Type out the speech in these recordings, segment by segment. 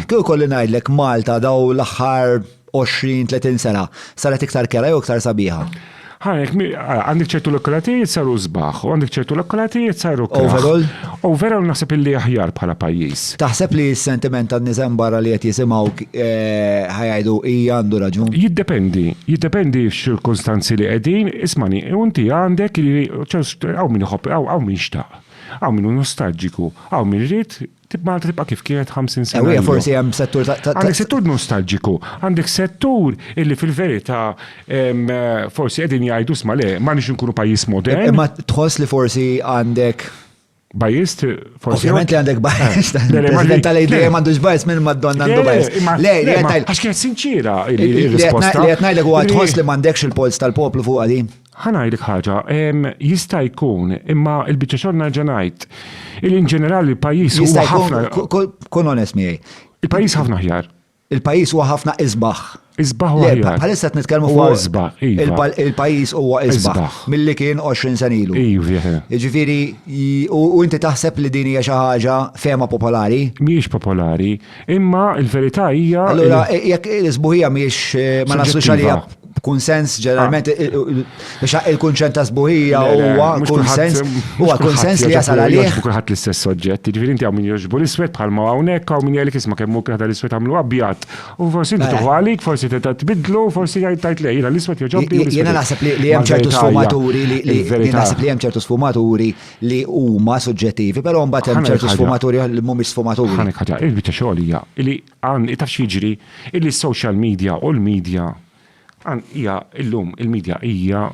Kieku kolli ngħidlek Malta daw l-aħħar 20, 30 sena saret iktar kera jew iktar sabiħa? Ħanek, għandek ċertu lokalatijiet saru zbaħ, u għandek ċertu lokalatijiet saru kera. Overall? Overall naħseb illi aħjar bħala pajjiż. Taħseb li s-sentiment tan nizem barra li qed jisimgħu eh, ħajajdu hija għandu raġun? Jiddependi, jiddependi x'ċirkunstanzi li qegħdin, ismani, unti għandek li hawn min iħobb, hawn min xtaq, hawn min nostalġiku, hawn min rrit Tib Malta tibqa' kif kienet 50 sena. Ewwija forsi hemm settur ta' ta' Għandek settur nostalġiku, għandek settur illi fil-verità forsi qegħdin jgħidu sma' le, m'għandniex inkunu pajjiż modern. Imma tħoss li forsi għandek Bajjiż forsi. Ovvjament li għandek bajjiż. President tal idea m'għandux bajjiż minn Madonna għandu bajjiż. Le, li għandek. Għax kienet sinċira il-risposta. Li qed ngħidlek huwa tħoss li m'għandekx il-polz tal-poplu fuq għadi. Ħa ngħidlek ħaġa, jista' jkun, imma l-biċċa xogħol nerġa' ngħid, li in ġenerali l-pajjiż huwa ħafna. Kun onest miegħi. Il-pajjiż ħafna ħjar. Il-pajjiż huwa ħafna isbaħ. Isbaħ u ħjar. Bħalissa qed nitkellmu fuq isbaħ. Iva. Il-pajjiż huwa isbaħ. Milli kien 20 sen ilu. Iva. Jiġifieri, u inti taħseb li din hija xi ħaġa fehma popolari? Mhijiex popolari, imma l-verità hija. Allura, jekk l-isbuħija mhijiex eh, ma naslux għalija kunsens ġeneralment biex il-kunċent ta' sbuħija huwa kunsens huwa kunsens li jasal għalih. Kulħadd l-istess oġġett, jiġifieri inti hawn min jogħġbu l-iswed bħal ma hawnhekk hawn min jgħidlek isma' kemm hu kieħda l-iswed għamlu abjad. U forsi inti tuħu għalik, forsi teta' tbidlu, forsi jgħid tajt lej, jiena l-iswed jogħġobni. Jiena naħseb li hemm ċertu sfumaturi li naħseb li hemm ċertu sfumaturi li huma suġġettivi, però mbagħad hemm ċertu sfumaturi li mhumiex sfumaturi. Ħanek ħaġa, il-biċċa xogħol hija li Għan hi ta' x'jiġri illi s-social media u l-media, għan hija illum il-media hija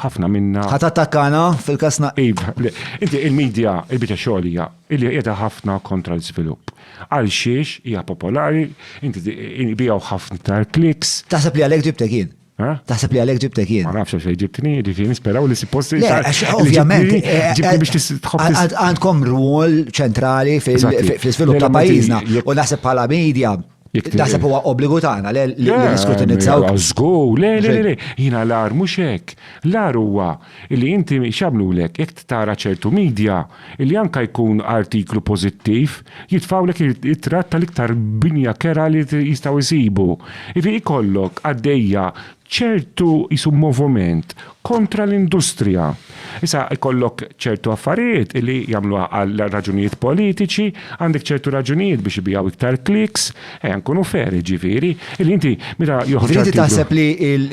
ħafna minnha. Ħa tattakkana fil-każ na. Iva, le, inti il-media, il-biċċa xogħol hija illi qiegħda ħafna kontra l-żvilupp. Għalxiex hija popolari, inti ibiegħu ħafna iktar clicks. Taħseb li għalhekk ġibtek jien? Eh? Taħseb li għalek ġibtek jien. Ma nafx għax ġibtni, ġifiri nisperaw li supposti. Le, għax ovvjament. Eh, eh, ġibtni biex tħobb. Għandkom rwol ċentrali fil-svilup ta' pajizna. U naħseb bħala media. Naħseb huwa obbligu tagħna li niskrutinizzaw. Żgur, le, le, le, jina l-ar mhux hekk. L-ar huwa illi inti x'jagħmlulek jekk tara ċertu media illi anke jkun artiklu pożittiv jitfgħulek ir-ritratt tal-iktar binja kerha li jistgħu jsibu. Jiġifieri jkollok għaddejja ċertu qisu moviment kontra l-industrija. Issa jkollok ċertu affarijiet illi jagħmluha għal raġunijiet politiċi, għandek ċertu raġunijiet biex ibiegħu iktar clicks, Ejja nkunu fair jiġifieri, li inti meta joħroġ. Jiġifieri inti taħseb li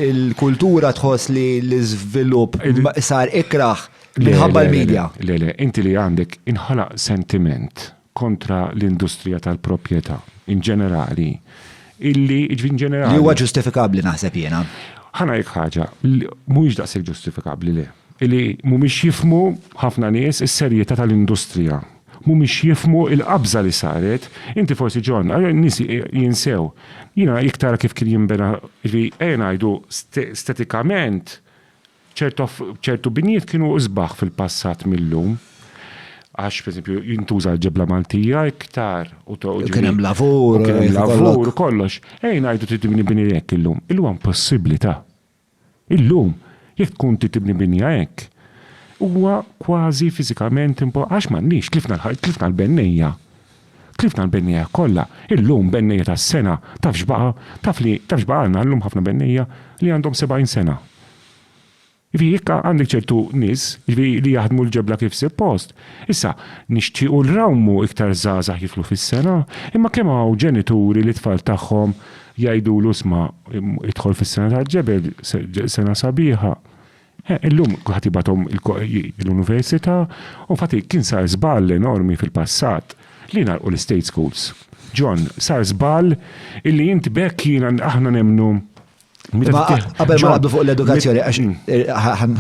l-kultura tħoss li l-iżvilupp sar ikrah minħabba l-media? Le, le, inti li għandek inħolaq sentiment kontra l-industrija tal-proprjetà in ġenerali illi jiġifieri in ġenerali. Li huwa ġustifikabbli naħseb jiena. Ħa ngħidlek ħaġa, mhuwiex daqshekk ġustifikabbli le. Illi mhumiex jifhmu ħafna nies is-serjetà tal-industrija. mhumiex jifhmu l-qabża li saret, inti forsi John, ara n-nies jinsew. Jiena jekk tara kif kien jinbena, jiġifieri ejja ngħidu stetikament ċertu binjiet kienu isbaħ fil-passat mil-lum. Għax pereżempju jintuża l-ġebla Maltija iktar u kien hemm lavur, kien hemm lavur kollox. Ejja ngħidu trid tibni bini hekk illum. Illum hemm possibbilità. Illum, jekk tkun trid tibni binja hekk, huwa kważi fiżikament impo għax m'għandniex, tlifna l-ħajt, tlifna l-bennejja. Tlifna l-bennejja kollha. Illum bennejja ta' sena, taf x'baqa'? Taf li, taf x'baqa' għandna llum ħafna bennejja li għandhom sebgħin sena. Jiġifieri jekk għandek ċertu nies, jiġifieri li jaħdmu l-ġebla kif sippost, Issa, nixtiequ li nrawmu iktar żgħażagħ jidħlu fis-sengħa, imma kemm hawn ġenituri li t-tfal tagħhom jgħidulu isma' idħol fis-sengħa tal-ġebel, sengħa sabiħa. Eh, illum kulħadd jibgħathom l-università u fati kien sar żball enormi fil-passat li ngħalqu l-state schools. John, sar żball illi int b'hekk jiena aħna nemmnu Qabel ma għaddu fuq l-edukazzjoni, għax mm. eh,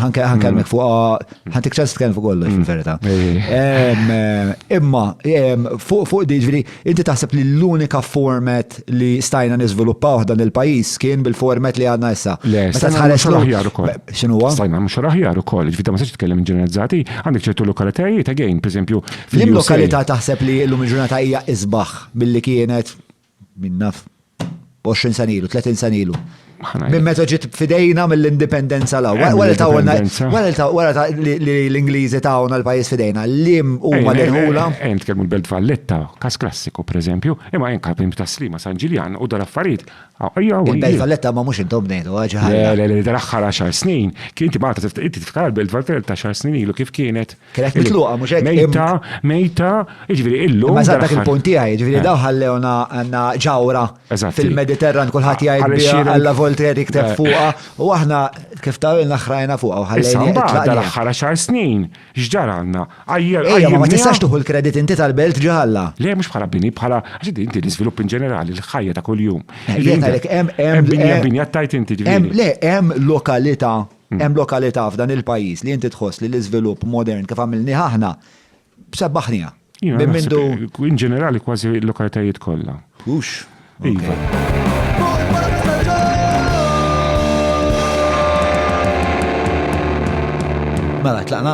ħankelmek fuq, ħantik mm. ċans tkellem fuq kollox mm. fil-verità. Eh, imma, fuq di ġviri, inti taħseb li l-unika format li stajna nizviluppaw dan il-pajis kien bil-format li għadna issa. Le, stajna mux raħjar ukoll. Xinu għu? Stajna mux raħjar ukoll, ġviri ma s-sċi tkellem ġeneralizzati, għandek ċertu lokalitajiet, again, per esempio. L-lokalità taħseb li l-lum ġurnata hija izbaħ billi kienet Min naf, 20 sen ilu, 30 sen ilu. Minn meta ġiet fidejna mill-indipendenza la. Wara ta' wara ta' l-Ingliżi ta' għona l-pajis fidejna, lim u ma l-ħula. Ejn tkellmu l-Belt Valletta, kas klassiku, per eżempju, imma ejn kapim ta' slima San Ġiljan u dar affarijiet. Il-Belt Valletta ma mux intom nejdu, għagħa. Dar axħar 10 snin, kien tibata, inti tifkar l-Belt Valletta 10 snin ilu kif kienet. Kienet mitluqa, mux hekk. Mejta, mejta, ġviri, illu. Ma zaħdak il-punti għaj, ġviri, eh. daw ħallewna għanna ġawra fil-Mediterran, kullħat ah, jgħid bija għalla volter jikteb eh. fuqa, u aħna kif ta' il naħrajna fuqa, u ħallewna. Issa, dal ħara xar snin, ġdar għanna, għajjer, għajjer. Ma tistax tuħu l-kredit inti tal-belt ġaħalla. Le, mux bħala bini, bħala, għaxid inti l-izvilupp in ġenerali, l-ħajja ta' kull-jum. Eh, Jena, hemm binja tajt inti ġviri. Le, hemm lokalita Hemm lokalità f'dan il-pajjiż li inti tħoss li l-iżvilupp modern kif għamilnieh aħna sebbaħniha? Minn mindu. In ġenerali kważi l-lokalitajiet kollha. Hux. Mela, tlaqna?